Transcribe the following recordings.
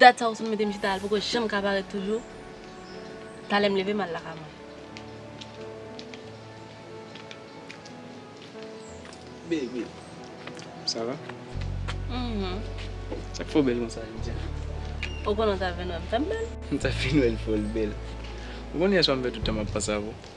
Dat sa ou sot mete m chita a li poko janm ka parèt toujou Talè m leve m al lakay mwen Baby Sa va? Mph Sa k fè w bèl konsa jodi a? Ou konnen w ta vin wè m fè m bèl? M ta vin wè l fè w bèl Ou konnen yèswa m fè tout tan m ap panse avè w?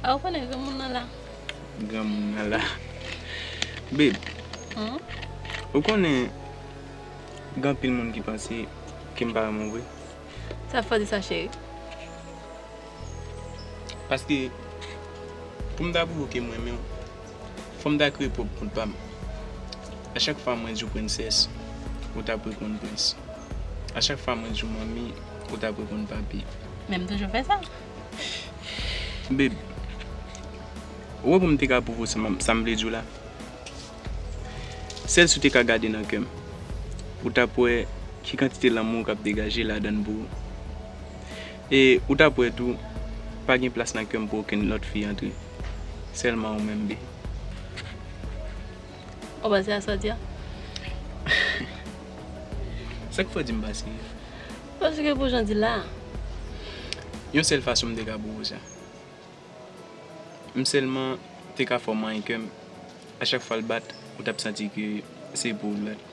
Ou konnen granmoun nan la. Granmoun nan la. Babe. Hum. Ou konnen gen anpil moun ki panse ke m pa renmen w vre. Sa fè w di sa cheri? Paske pou m ta pwouve w ke m renmen w, fò m ta kreye pwòp kont pa m. A chak fwa mwen di w prensès, ou ta ap reponn prens. A chak fwa mwen di w manmi, ou ta ap reponn papi. Men m toujou fè sa. Babe, ou wè pou m te ka pwouve w sa m sa m vle di w la, sèl si w te ka gade nan kè m, ou t ap wè ki kantite lanmou k ap degaje ladan l pou ou. E ou t ap wè tou pa gen plas nan kè m pou okenn lòt fi antre, sèlman ou menm Bee. Ou panse a sa w di a? Sa k fè w di m panse? Paske pou jan di la a. Yon sèl fason m te ka bowo sa. M sèlman te ka fè w manyen kè m. A chak fwa l bat, ou t ap santi ke se pou ou l bat.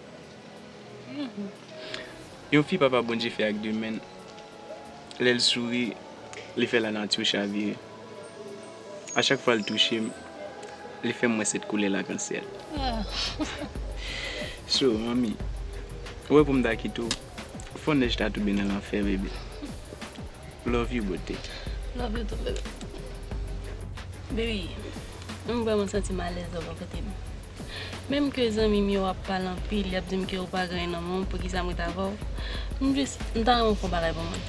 Yon fi Papa Bondye fè ak de men l, lè l souri, li fè lanati w chavire. A chak fwa l touche m, li fè m wè sèt koulè lakansyèl. So, manmi, ou wè pou m ta kite w. Fon nèj ta tonbe nan lanfè bebe Love you bote. Love you too bebe. Bebe m vreman santim alèz lè w bò kotem menm ke zanmim yo ap pale anpil yap dim ke ou pa gen nan menw poukisa m ret avèw m jis m ta renmen w fè yon bagay pou mwen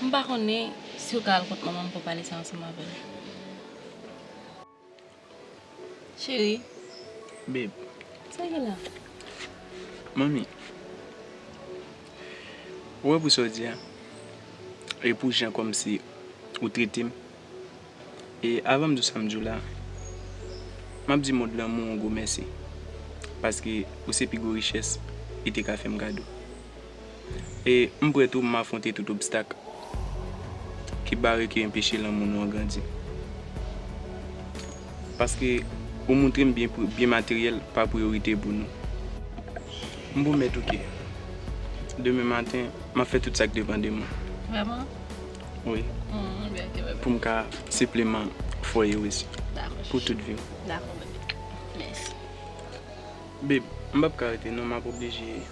m pa konnen si w ka al kot manmanm pou w pale sa ansanm avèl. Cheri. Beb. Sa gen la? Manmi. Ou wè pou sa w di a? E pou jan kòmsi ou trete m? E avan m di w sa m di w la, m ap di mond lanmou w yon gwo mèsi. Paske ou se pi gwo richès li te ka fè m kado. E m prè tou m afwonte tout obstak ki bare ki enpeche lanmou nou an grandi. Paske ou moutre m byen byen materyèl pa priyorite pou nou. M pwomèt ou ke demen maten m ap fè tout sa k depan de mwen. Vrèman? Wi. M byen ke bebe. Pou m ka sipleman fwaye w isi. Dakò chouchou. Pou tout vi w. Dakò bebe. Mèsi. Bebe, m p ap ka rete non m ap oblije.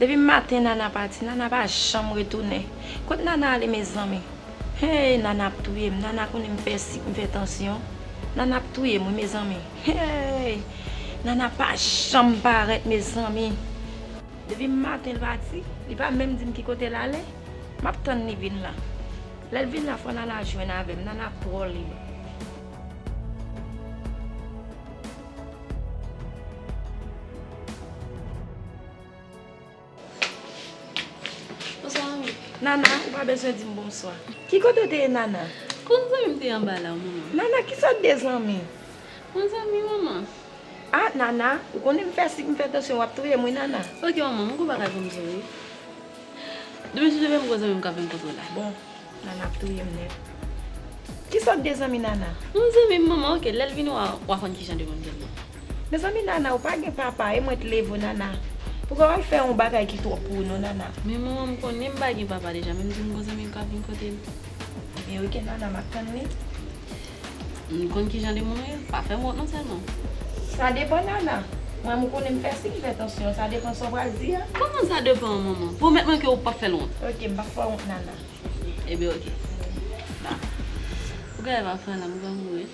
Depi maten nana pati nana pa janm retounen kot nana ale mezanmi heyy nana ap touyem nana konnen m fè sik m fè tansyon nana ap touyem wi mezanmi heyy nana pa janm parèt mezanmi depi maten l pati li pa menm dim ki kote l ale map tann li vin la lèl vin la fò nana jwenn avèm nana twò libe. Nana, ou pa bezwen di m bonswa. Ki kote ou te ye Nana? Kon zanmi m te anba la w manman. Nana, ki sa w de zanmi? Kon zanmi manman. A, Nana, ou konnen m fè sik m fè tansyon w ap touye m wi Nana. Ok manman, m ko pa ka janm di w wi. Depi sou de menm gwo zanmi m kap vin kote w la. Bon Nana ap touye m nèt. Ki sòt de zanmi Nana? Yon zanmi manman ok lèl vin wè w wa konn ki jan de moun ke l ye. Mezanmi Nana ou pa gen papa e mwen t leve w Nana pou ka w al fè yon bagay ki twòp pou ou non Nana. Men manman m konnen m pa gen papa deja men m di m gwo zanmi m kap vin kote l. Ebyen ok Nana map tann li. M konn kijan de moun ou ye, pa fè m wont non sèlman. Sa depan Nana, mwen m konnen m fè siy m fè tansyon, sa depan sa w pral di a. Kòman sa depan manman? Pwomèt mwen ke ou pap fè l wont. Ok, m pap fè w wont Nana. Ebyen ok. Sa. Pou gade wap fè la m pral mouri.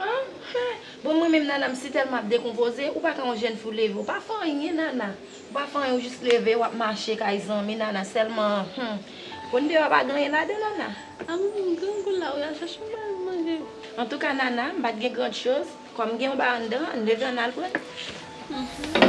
An, hen! Bon mwen menm Nana m sitèlman ap dekonpoze, ou pa ka yon jèn fi w leve, ou pa fè anyen Nana. Ou pa fanyen ou jis leve wap mache kay zanmi nana selman humm konn deyo a pa gen anyen ladan nana. Amou grangou la wi al chache yon bagay pou manje. Antouka nana m pat gen grand choz kòm m gen yon bagay anndan an leve ann al pran li.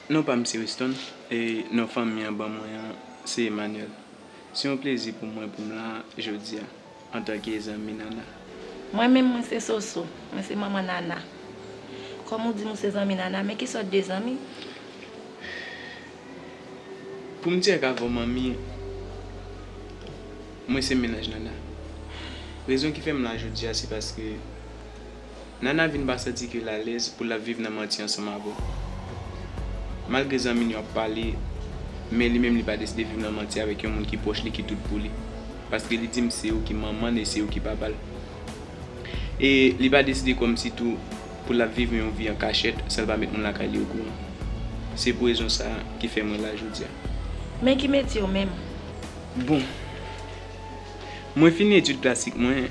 Non pa m se Weston e non fanmi an ban mwen an se Emmanuel. Se yon plezi pou mwen pou m la jodi a antanke zanmi Nana. Mwen menm mwen se Soso, mwen se manman Nana. Kòm ou di m ou se zanmi Nana, men ki sòt de zanmi? Pou m di ak avè w manmi, mwen se mennaj Nana. Rezon ki fè m la jodi a se paske. Nana vin pa santi ke l alèz pou l ap viv nan manti ansanm avè l. Malgre zanmi l yo ap pale, men li menm li pa deside viv nan manti avèk yon moun ki pwòch li ki tout pou li. Paske li di m se yo ki manman l e se yo ki papa l. E li pa deside kòmsi tou pou l ap viv yon vi an kachèt san l pa met moun lakay li okouran. Se pou rezon sa a ki fè mwen la jodi a. Men ki metye w menm? Bon, mwen fini etid klasik mwen.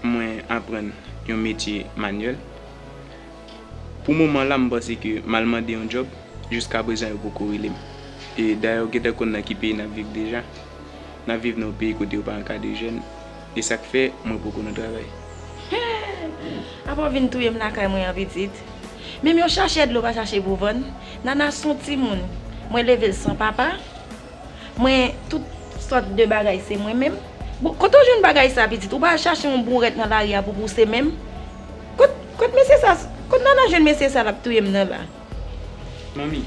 mwen aprann yon metye manyèl. Pou moman la m panse ke m al mande yon djòb, jiska prezan yo poko rele m. E dayè ou gentan konn nan ki peyi n ap viv deja. N ap viv nan yon peyi kote yo pa ankadre jèn, e sa k fè mwen poko nan travay. Hee! Apa w vin touye m lakay mwen an pitit? Menm yon chachè dlo pa chache pou vann. Nana s on timoun mwen leve l san papa. Mwen tout sòt de bagay se mwen menm. Bon kote w jwenn bagay sa pitit? Ou pa al chache yon bourèt nan lari a pou pouse menm? Kot, kot mesye sa, kot Nana jwenn mesye sa l ap touye m nan la? Manmi,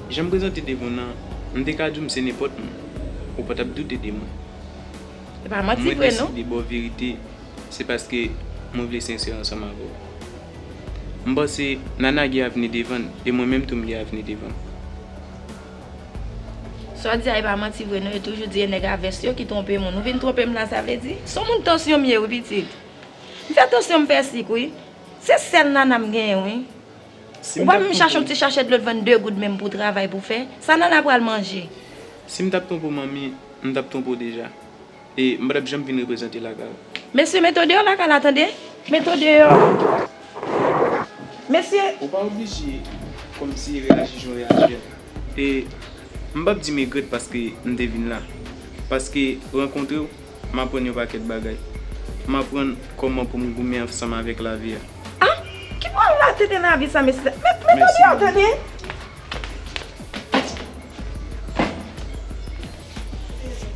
jan m prezante devan w nan, m te ka di w m se nenpòt moun. Ou pa t ap doute de mwen. Se pa manti vre non. Mwen deside ba w verite se paske mwen vle sensè ansanm avè w. M panse Nana gen avni devan l e mwen menm tou m gen avni devan m. Sa w di a e pa manti vre non yo toujou di e nèg a vès yo ki twonpe moun ou vin twonpe m la sa vle di. Son moun tansyon m ye wi pitit. M fè tansyon m fè sik wi. Se sèl nana m genyen wi. Ou pa menm chache yon ti chachè dlo t vann 2 goud menm pou travay pou fè. Sa nana pral manje. Si m tap twonpe w manmi m tap twonpe w deja. E m patap janm vin reprezante lakal. Mesye meto deyò lakay la tande. Meto deyò mesye. Ou pa oblije kòmsi reyaji jan w reyaji a. E m pap di m egrèt paske m te vin la. Paske rankontre w m aprann yon pakèt bagay. M aprann kòman pou m goumen anfsanm avèk lavi a. A! Ki pral rate nan lavi sa mesye dam. Met meto deyò tande.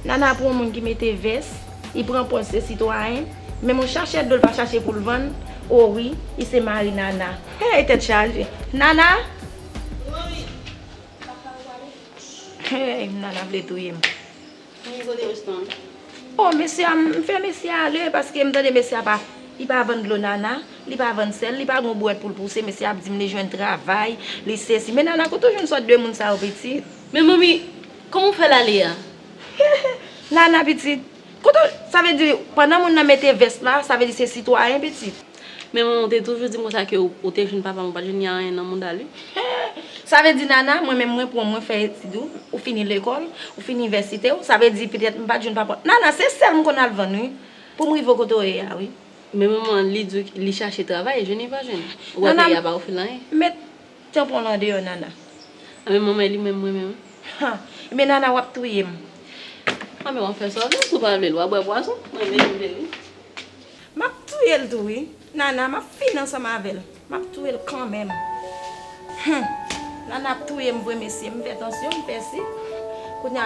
Nana pran yon moun ki mete vès, li pran pòz se sitwayen, men moun chachè dlo l pa chache pou l vann, o wi, li se mari Nana. Heyy tèt chaje. Nana! Mami, papa ou pale? Heyy Nana vle touye m. Mami kote resto an? O mesye a, m fè mesye a ale paske m tande mesye a pa, li pa vann dlo Nana, li pa vann sèl, li pa gen yon bouwèt pou l pouse, mesye a ap di m li jwenn travay, li sesi. Men Nana kote w jwenn sòt de moun sa yo pitit? Men Mami, Kòman ou fè l ale a? Hehe Nana pitit, kote w, sa vle di pandan moun nan mete vès la, sa vle di se sitwayen pitit? Men manman w te toujou di m konsa ke ou te jwenn papa m, ou pa t jwenn Yaren nan mouda l wi. Hehe Sa vle di Nana, mwen menm mwen pou mwen fè etid ou, ou fini lekòl, ou fini inivèsite w, sa vle di petèt m pa t jwenn papa w. Nana se sèl m konn al vann wi, pou m rive w kote w ye a wi. Men manman li di w li chache travay, jwenn li pa jwenn. Ou pa peye a ba ou fè l anyen. Met Tanpon lan deyò nana. Anben mwen mwen li menm mwen menm. Han ebyen nana wap touyem. Anben wap fè saw vle si w pa vle l wap bwè pwazon mwen menm mwen li. Map touyel tou wi nana map fini ansanm avèl map touyel kanmenm humm nana ap touyem vre mesye m fè tansyon m pèse kounya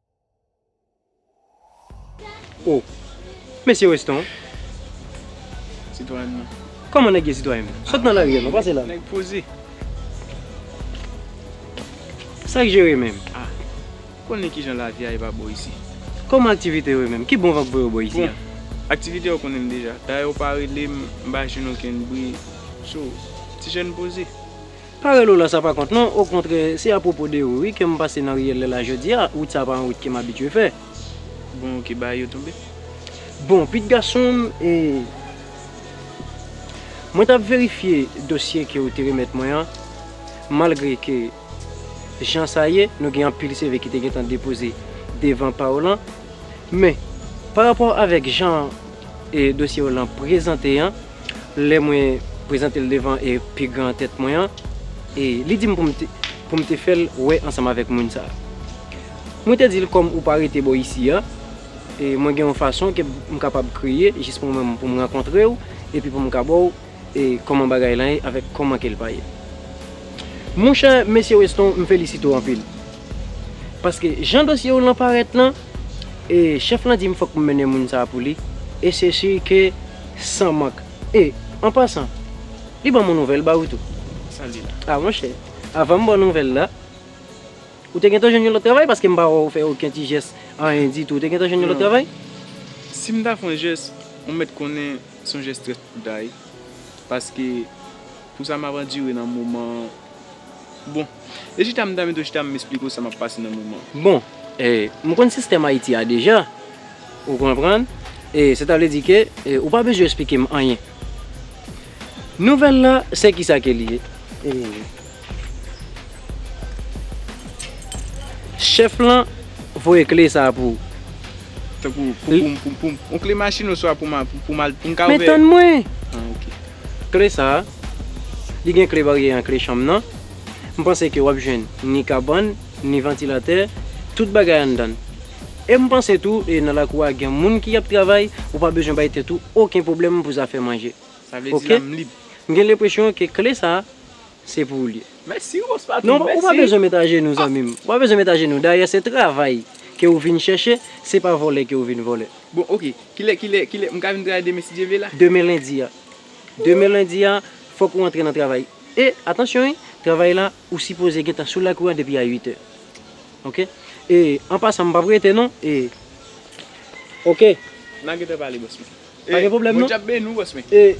Oh Mesye Weston Sitwayen mwen Kòman nèg ye sitwayen m? Sot nan lari a non, pase la Nèg poze Sa k jere menm? Ah Ou konnen kijan lavi a ye pa bò isi? Kòman aktivite yo menm? Ki bon vag pou yo bò isi a? Bon Aktivite yo konnen m deja Dayè ou pa rele m m pa jwenn okenn bri Sou Ti jèn poze Pa rele w la sa pa kont non, okontrè se apwopo de ou wi ke m pase nan riyèl lè la jodi a, wout sa pa yon wout ke m abitye fè. Bon ok ba yo tonbe. Bon Pete gason m e Mwen t ap verifye dosye ke ou te remèt mwen an, malgre ke jan sa ye nou gen anpil CV ki te gentan depoze devan pa w lan, men parapò avèk jan e dosye yo lan prezante an, lè mwen prezante l devan e pi gran tèt mwen an, e li di m pou m te pou m te fè l wè ansanm avèk moun sa a. Mwen te di l kòm ou pa rete bò isi a, e mwen gen yon fason ke m kapab kreye jis pou mwen pou m rankontre w epi pou m ka ba w e kòman bagay lan ye avèk kòman ke l pa ye. Monchè Mesye Weston m felisite w anpil. Paske jan dosye w lan parèt lan, e chèf lan di m fòk m mennen moun sa a pou li, e se si ke san mank. E, an pasan, li ban m yon nouvèl ba ou tou. Sa li la? A monchè, avan m ba w nouvèl la, ou te gentan jwenn yon lòt travay paske m pa wè w fè oken ti jès, anyen ditou. Ou te gentan jwenn yon lòt travay? Non. Si m ta fè yon jès, ou mèt konnen se yon jès trèt pou w ta ye. Paske. Pou sa map andire nan moman Bon e chita m ta met w chita m esplike w sa map pase nan moman. Bon e m konn sistèm Ayiti a deja ou konprann e sa ta vle di ke ou pa bezwen esplike m anyen Nouvèl la se kisa ke li ye Chèf lan voye kle sa pou ou. Tankou pou m pou m pou m on kle machin oswa pou m pou m al pou m ka ouvè Men tann mwen! Kle sa a, li gen kle baryè an kle chanm nan, m panse ke w ap jwenn ni kabann, ni vantilatè, tout bagay anndan l. E m panse tou nan lakou a gen moun ki ap travay, ou pa bezwen bay tèt ou oken pwoblèm pou zafè manje. Sa vle di la m lib. M gen lenpresyon ke kle sa a, Se pou ou li ye. Mèsi Rose Patrick, mèsi. Non, ou pa bezwen met ajenou zanmi m. Ou pa bezwen met ajenou. Dayè se travay ke ou vin chèche, se pa vòlè ke ou vin vòlè. Bon ok, kilè, kilè, kilè, m ka vin travay demen si Dye vle la? Demen lendi a. Demen lendi a, fòk ou antre nan travay. E, atansyon wi, travay la, ou sipoze gentan sou lakou a depi a 8 è. Ok? E, an pasan m pap rete non, e. Ok. M a gentan pale boss mwen. Pa gen pwoblèm non. Bondye ap beni w bòs mwen. E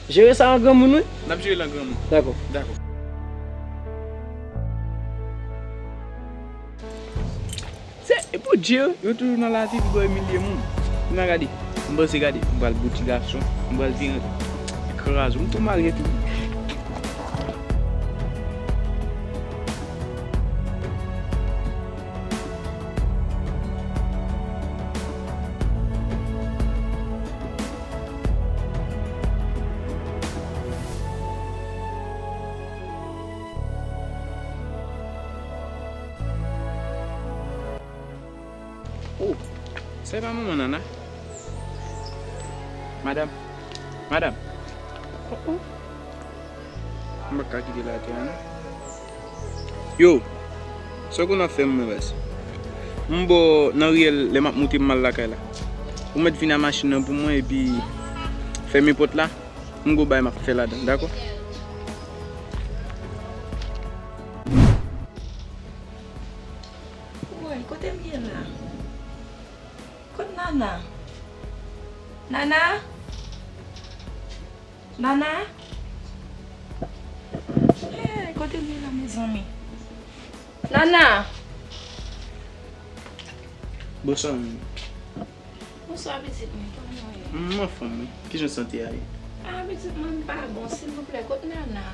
jere sa an granmoun wi. N ap jere l an granmoun. Dakò. Dakò. Se pou di yo, yo toujou nan lavi pou yo imilye moun. Kounye a gade, m panse gade, m pral bouti gason, m pral vire an kraze, m tou marye tou. Oh sa e pa manman nana madam madam oh oh m paka kite l atè a non. Yo! Sa w konn ap fè mwen ras? M bo nan riyèl lè map moute m al lakay la. Ou mèt vin a machin nan pou mwen epi fèmen pòt la, m gou bagay map fè ladan dakò? Woy kote m ye la? Kot Nana? Nana! Nana Eeh kote li ye la mezanmi Nana Bonswa mimi Bonswa pitit mwen kòman ou ye? Mwen anfòm wi kijan sante a ye? Ah pitit mwen m pa bon silvouplè kot Nana?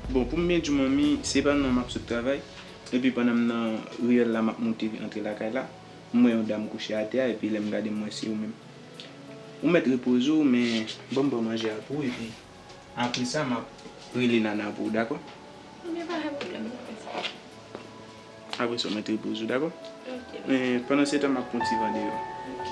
Bon pou m byen diw manmi se pa nan map sot travay epi pandan m nan riyèl la map moute antre lakay la m wè yon dam kouche atè a epi lèm gade m wè se ou menm Ou mèt repoze w men ban m pran manje a pou ou epi apre sa m ap rele Nana pou ou dakò? Ok, pa gen pwoblèm, m ap fè sa. Apre sa w mèt repoze w dakò? Ok. Men pandansetan m ap pran ti van deyò. Ok.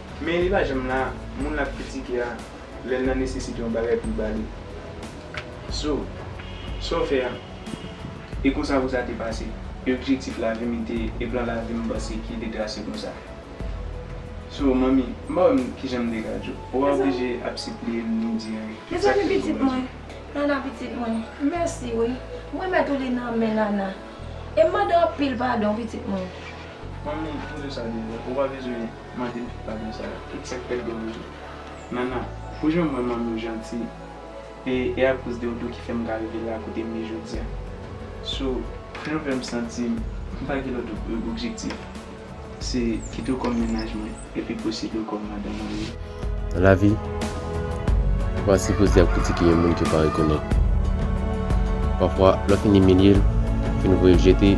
Men li pa janm la, moun lap kritike a lèl nan nesesite yon bagay poul ba li. So, Saw fè a, e konsa pou sa te pase. E objektif lavim li te e plan lavim panse ki te trase konsa. So, manmi, m pa wèm kijan m te ka di w. Ou pa oblije ap sipliye m ni di anyen. Tout sa ki fèt bon rezon. Nana pitit mwen, mèsi wi. M remèt ou li nan men Nana. E m mande w anpil padon pitit mwen. Manmi, m di w sa deja, ou pa bezwen. Mande tout pardon sa yo. Tout sak pèdi an rejou. Nana pou jan mwen manmiw janti e e akoz de oudou ki fèm ka rive la kotem ye jodia so pou jan fèm santim mpa gen lòt objektif se kitew kòm mennaj mwen epi posede w kòm madanm mwen ye. Nan lavi, ou pa sipoze ap kritike yon moun ke w pa rekonèt. Pafwa, lè w fin imilye l, ou fin voye l jete,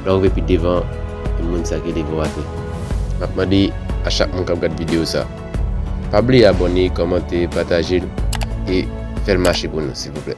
lè w rive pi devan, e moun sa ki leve w atè. M ap mande a chak moun k ap gad videyo sa, pa bliye abòne, kòmante, pataje l, e fè l mache pou nou silvouplè.